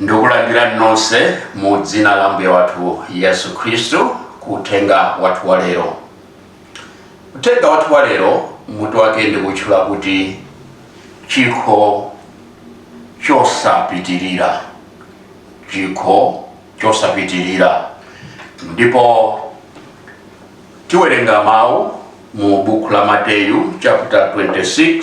Ndikulandirani nonse mu dzina la Ambuye wathu Yesu Khristu ku uthenga wathu wa lero. Uthenga wathu wa lero mutu wake ndikutchula kuti chikho chosapitirira, chikho chosapitirira, ndipo tiwerenga mawu mu buku la Mateyu chapter 26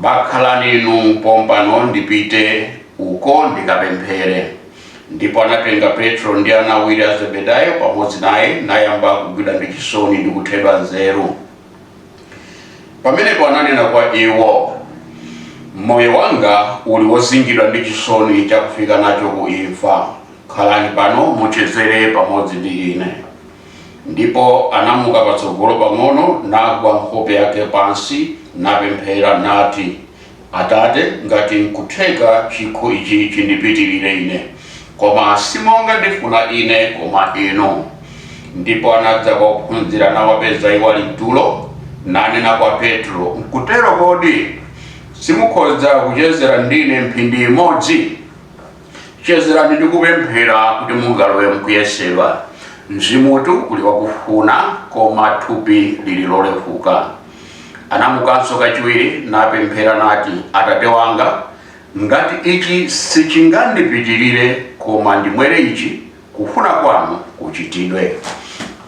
Bakhalani inu pompano ndipite uko ndikapemphere. Ndipo anatenga Petro ndi ana awiri a Zebedayo pamodzi naye, nayamba kugwidwa ndi chisoni ndi kuthedwa nzeru. Pamenepo ananena kwa iwo, Moyo wanga uli wozingidwa ndi chisoni chakufika nacho ku imfa, khalani pano muchezere pamodzi ndi ine. Ndipo anamuka patsogolo pang'ono, nagwa nkhope yake pansi, napemphera, nati, Atate, ngati nkutheka chikho ichi chindipitirire ine, koma si monga ndifuna ine, koma inu. Ndipo anadza kwa ophunzira, nawapeza iwo ali m'tulo, nanena kwa Petro, Nkutero kodi? Simukhoza kuchezera ndine mphindi imodzi? chezerani ndi kupemphera kuti mungalowe mkuyesedwa mzimutu uli wakufuna koma thupi lili lolefuka anamukanso kachiwiri napemphera nati atate wanga ngati ichi sichingandipitirire koma ndimwere ichi Kufuna kwanu kuchitidwe.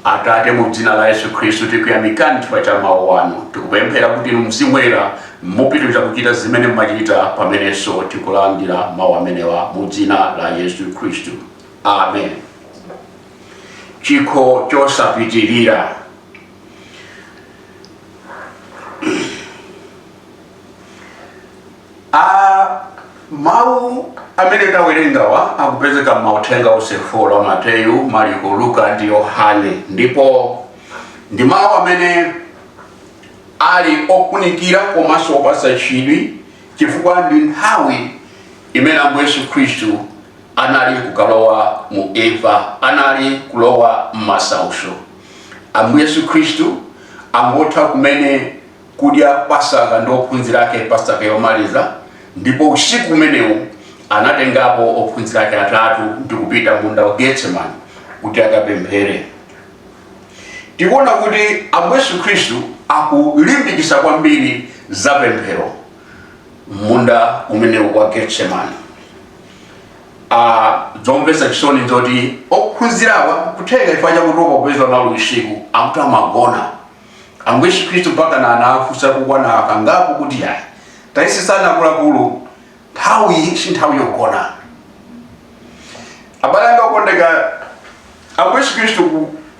Atate, mu Dzina la Yesu Khristu, tikuyamikani chifukwa cha Mawu Anu. Tikupemphera kuti Mzimu Woyera mupitiriza kuchita zimene mumachita pamenenso tikulandira mawu amenewa mu Dzina la Yesu Khristu. Amen. Chikho chosapitirira. a mawu amene tawerengawa akupezeka m'mauthenga onse 4 a mateyu mariko luka ndi yohane ndipo ndi mawu amene ali ofunikira komanso opatsa chidwi chifukwa ndi nthawi imene ambuye yesu khristu anali kukalowa mu imfa anali kulowa m'masautso ambuye yesu khristu angotha kumene kudya pasaka ndi ophunzira ake pasaka yomaliza ndipo usiku umenewu anatengapo ophunzira ake atatu ndi kupita m'munda wa getsemani kuti akapemphere tikuona kuti ambuye yesu khristu akulimbikisa kwambiri za pemphero m'munda umenewu wa getsemani Ah, zomvesa chisoni nzoti ophunzirawa kutheka chifukwa chakutopa kuchezera usiku akuti amagona ambuye yesu khristu mpakana anafunsa kukwana kangapo kuti ayi tayesetsani kulakula nthawi si nthawi yogona abale anga okondeka ambuye yesu khristu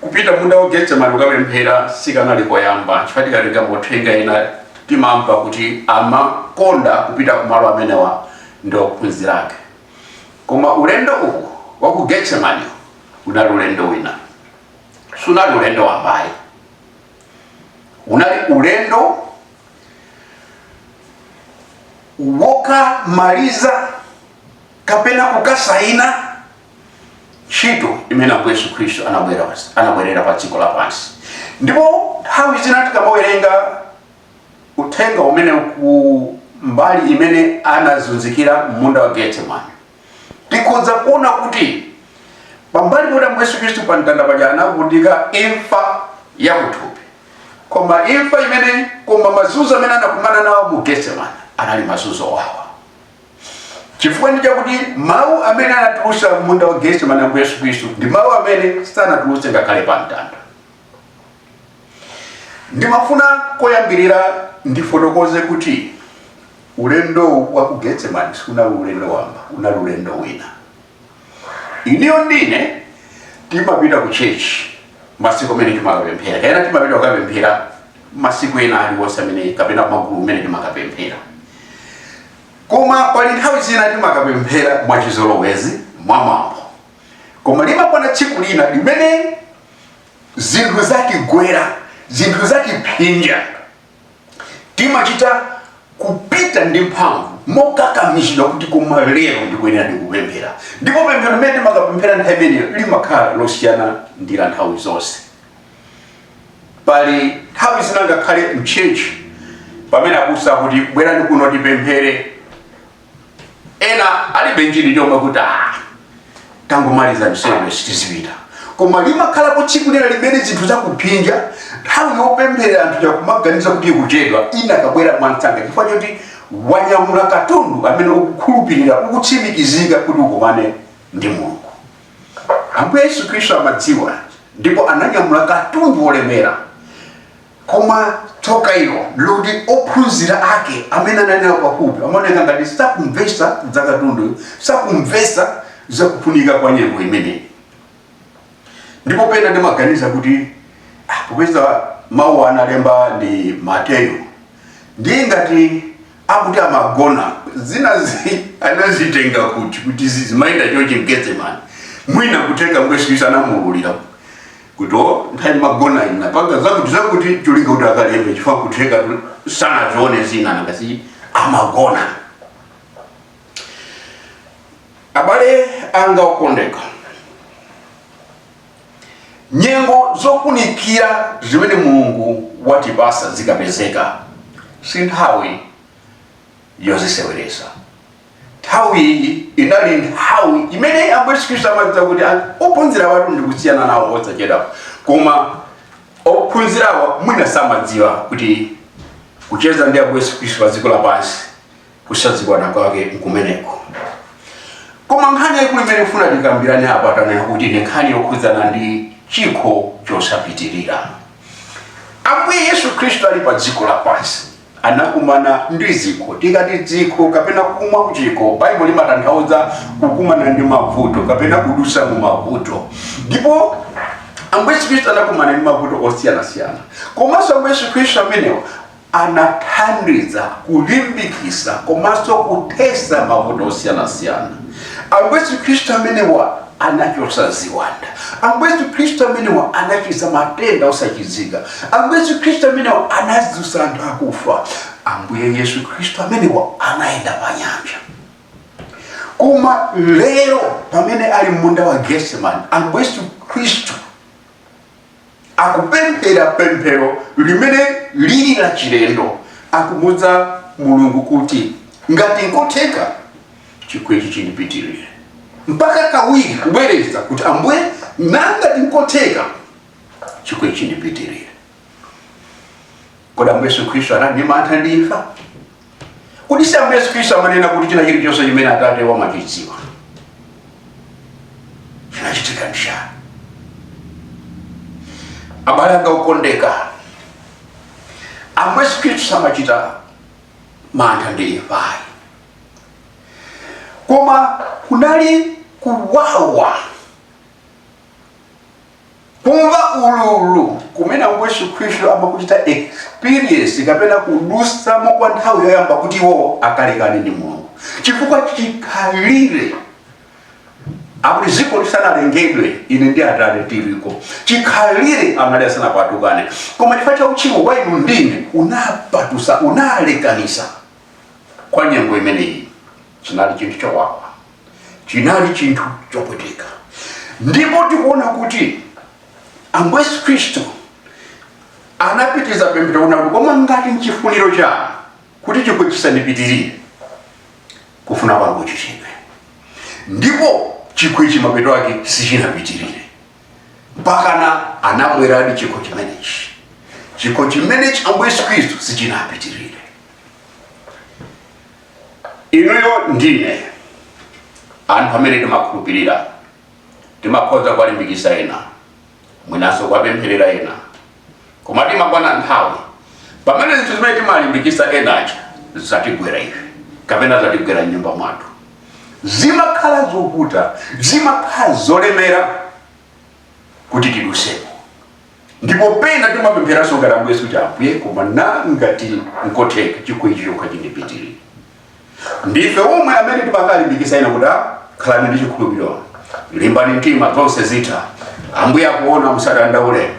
kupita munda wa getsemani kukapemphera sikanali koyamba chifukwa tikatenga mauthenga ena timamva kuti amakonda kupita kumalo amenewa ndi ophunzira ake koma ulendo uwu wa ku getsemani unali ulendo wina sunali ulendo wamba ayi unali ulendo wokamaliza kapena kukasaina ntchito imene ambuye yesu khristu anabwerera pa dziko lapansi ndipo nthawi zina tikamawerenga uthenga umene ku mbali imene anazunzikira munda wa getsemani tikhoza kuona kuti pambali poti ambuye yesu khristu pa mtanda paja anavutika imfa ya kuthupi koma imfa imene koma mazunzo amene anakumana nawo mu getsemani anali mazunzo owawa chifukwa ndi chakuti mawu amene anatulutsa munda wa getsemani ambuye yesu khristu ndi mawu amene sanatulutse ngakhale pa mtanda ndimafuna koyambirira ndifotokoze kuti ulendo wa ku getsemani sunali ulendo wamba unali ulendo wina inuyo ndi ine timapita ku chechi masiku amene timakapemphera kapena timapita kukapemphera masiku ena aliwonse amene kapena magulu amene timakapemphera koma pali nthawi zina timakapemphera mwachizolowezi mwamwambo koma limakwana tsiku lina limene zinthu zatigwera zinthu zatiphinja timachita kupita ndi mphamvu mokakamizidwa kuti koma lero ndikuyenera ndikapemphere ndipo pemphero limene timakapemphera nthawi imeneyo limakhala losiyana ndi la nthawi zonse pali nthawi zina ngakhale mchechi pamene abusa akuti bwerani kuno tipemphere ena alibe chidwi chomwe kuti ah, tangomalizani ife tizipita koma limakhala tsiku lina limene zinthu zakuphinja nthawi yopemphera umachita kumaganiza kuti ikuchedwa inakabwera mwamsanga chifukwa choti wanyamula katundu amene ukukhulupirira ukutsimikiza kuti ukumane ndi mulungu ambuye yesu khristu amadziwa ndipo ananyamula katundu wolemera Koma tsoka ilo loti ophunzira ake amene anali nawo pafupi amaoneka ngati sakumvetsa za katundu, sakumvetsa za kufunika kwa nyengo imeneyi. Ndipo pena ndimaganiza kuti ah, popeza mawu analemba ndi Mateyu ndiye ngati akuti amagona zinazi anazitenga kuti zimayenda chochi mgetsemani mwina kutenga kuti Yesu Kristu anamuululira kuti o nthawi amagona ina napanga zakuti zakuti cholinga kuti akalembe chifukwa kutheka sanazione zina ngati amagona abale anga okondeka nyengo zofunikira zimene mulungu watipasa zikapezeka si nthawi yoziseweretsa nthawi iyi inali nthawi imene ambuye yesu khristu amadziwa kuti ophunzirawatu ndi kusiyana nawo osachedwa koma ophunzirawa mwina samadziwa kuti kucheza ndi ambuye yesu khristu pa dziko lapansi kusazikwana kwake nkumeneko koma nkhani yaikulu imene ndifuna tikambirane apa tanena kuti ndi nkhani yokhudzana ndi chikho chosapitirira ambuye yesu khristu ali pa dziko lapansi anakumana ndi zikho. Tikati zikho kapena kumwa kuchikho, Baibulo limatanthauza kukumana ndi mavuto kapena kudusa mu mavuto. Ndipo Ambuye Yesu Khristu anakumana ndi mavuto osiyanasiyana. Komanso Ambuye Yesu Khristu amenewo anathandiza kulimbikisa komanso kuthesa mavuto osiyanasiyana. Ambuye Yesu Khristu amenewa anachotsa ziwanda. Ambuye Yesu Khristu amenewa anachiza matenda osachizika. Ambuye Yesu Khristu amenewa anazusa anthu akufa. Ambuye Yesu Khristu amenewa anayenda pa nyanja. Koma lero pamene ali mmunda wa Getsemani, Ambuye Yesu Khristu akupemphera pemphero limene lili la chilendo akumuuza mulungu kuti ngati nkotheka chikho ichi chindipitirire mpaka kawiri kubwereza kuti ambuye ngati nkotheka chikho ichi chindipitirire kodi ambuye yesu khristu anali ndi mantha ndi imfa kodi si ambuye yesu khristu amanena kuti china chilichonse chimene atate amachidziwa chinachitika nchani abale anga okondeka ambuye yesu khristu samachita mantha ndi imfa ayi koma kunali kuwawa kumva ululu kumene ambuye yesu khristu amakuchita experience kapena kudusamo kwa nthawi yoyamba kuti iwo akalekane ndi mulungu chifukwa chikhalire akuti dziko lisanalengedwe ine ndi atate tiliko chikhalire anali asanapatukane koma chifukwa cha uchimo wa inu ndi ine unapatusa unalekanisa kwa nyengo imeneyi chinali chinthu chowawa chinali chinthu chopweteka ndipo tikuona kuti ambuye yesu khristu anapitiriza pemphero kunena kuti koma ngati nchifuniro chanu kuti chikho chisandipitirire kufuna kwanu kuchitidwe ndipo chikhochi mapeto ake sichinapitirire mpakana anamweradi chikho chimenechi chikho chimenechi ambuye yesu khristu sichinapitirire Inuyo ndi ine anthu amene timakhulupirira timakhoza kuwalimbikisa ena mwinaso kuwapempherera ena koma imakwana nthawi pamene zinthu zimene timalimbikisa ena aja zatigwera ife kapena zatigwera mnyumba mwathu zimakhala zovuta zimakhala zolemera kuti tidusemo ndipo pena timapempheranso ngati ambuye yesu kuti ambuye koma ngati nkotheka chikho ichi chokha chindipitirire ndife omwe amene timakalimbikisa ena kuti "Ah, khalani ndi chikhulupiriro limbani mtima zonse zitha ambuye akuona musadandaule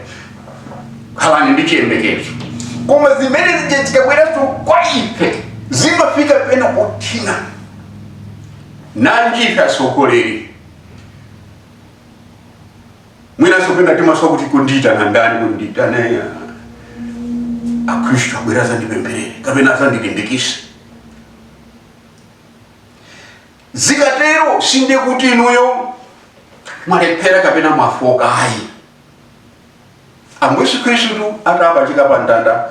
khalani ndi chiyembekezo koma zimene zija zikabweranso kwa ife zimafika pena pothina nanji ife atsogoleri mwinanso pena timasowa kuti kodi ndiitana ndani kuti ndiitane ah, akhristu abwere azandipempherere kapena azandilimbikise zikatero sindiye kuti inuyo mwalephera kapena mwafoka ayi Ambuye Yesu Khristu atapachika pa mtanda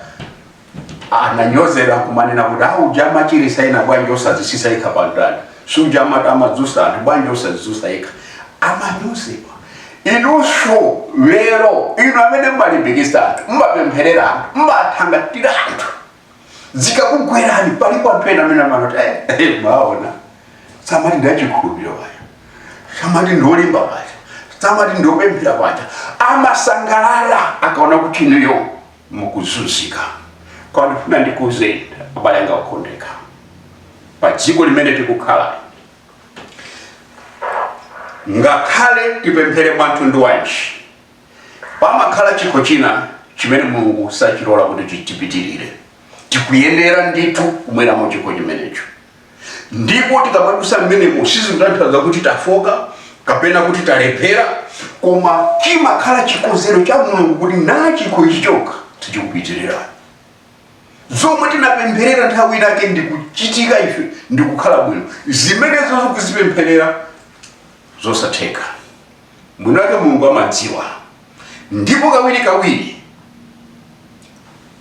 ananyozedwa kumanena kuti ah suja amachirisa ena bwanji osadzitsitsa yekha pa mtanda suja amadzutsa anthu bwanji osadzidzutsa yekha amanyozedwa inunso lero inu amene mmalimbikitsa anthu mmapempherera anthu mmathangatira anthu zikakugwerani palipo anthu ena amene amanena kuti "Eh, mwaona samati ndachikhulupiriro paja samati ndiolimba paja samati ndiopemphera paja amasangalala akaona kuti inuyo mukuzunzika koma ndifuna ndikuuzeni abale anga okondeka pa dziko limene tikukhala ngakhale tipemphere mwamtundu wanji Pamakhala chikho china chimene Mulungu sachilola kuti chipitirire. Tikuyenera ndithu kumweramo chikho chimenecho, ndipo tikamadusa mmenemo sizikutanthauza kuti tafoka kapena kuti talephera, koma chimakhala chikonzero cha Mulungu kuti na chikho ichi chokha sichikupitirira. Zomwe tinapempherera nthawi inake ndi kuchitika ife ndi kukhala bwino, zimenezo tikuzipempherera zosatheka. mwinake mulungu amadziwa ndipo kawiri kawiri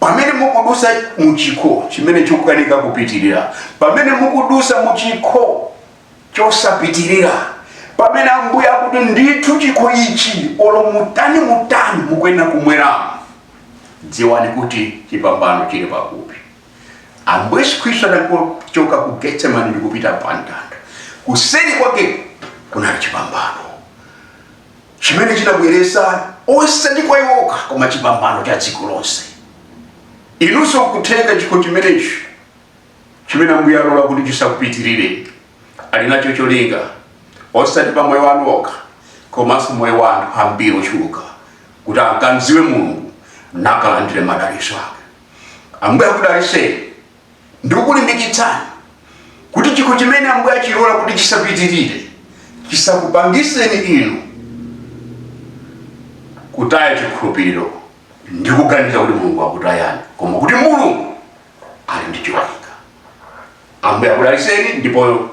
pamene mukudutsa muchikho chimene chikukanika kupitirira pamene mukudutsa muchikho chosapitirira pamene ambuye akuti ndithu chikho ichi olo mutani mutani mukuyenera kumweramo dziwani kuti chipambano chili pafupi Ambuye Yesu Khristu anachoka ku Getsemani ndi kupita pa mtanda. Kuseri kwake kunali chipambano chimene chinabweretsa osati kwa iwo okha koma chipambano cha dziko lonse. Inunso kutenga chikho chimenechi chimene Ambuye alola kuti chisakupitirire ali nacho cholinga osati pa moyo wanu okha komanso moyo wa anthu ambiri ochuluka kuti akamdziwe Mulungu nakalandire madalitso ake. ambuye akudalitseni ndikukulimbikitsani kuti chikho chimene ambuye achilola kuti chisapitirire chisakupangitseni inu kutaya chikhulupiriro ndi kuganiza kuti mulungu akutayani koma kuti mulungu ali ndi cholinga ambuye akudalitseni ndipo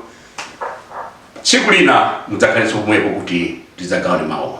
tsiku lina mudzakhalenso pomwepo kuti tidzagawane mawu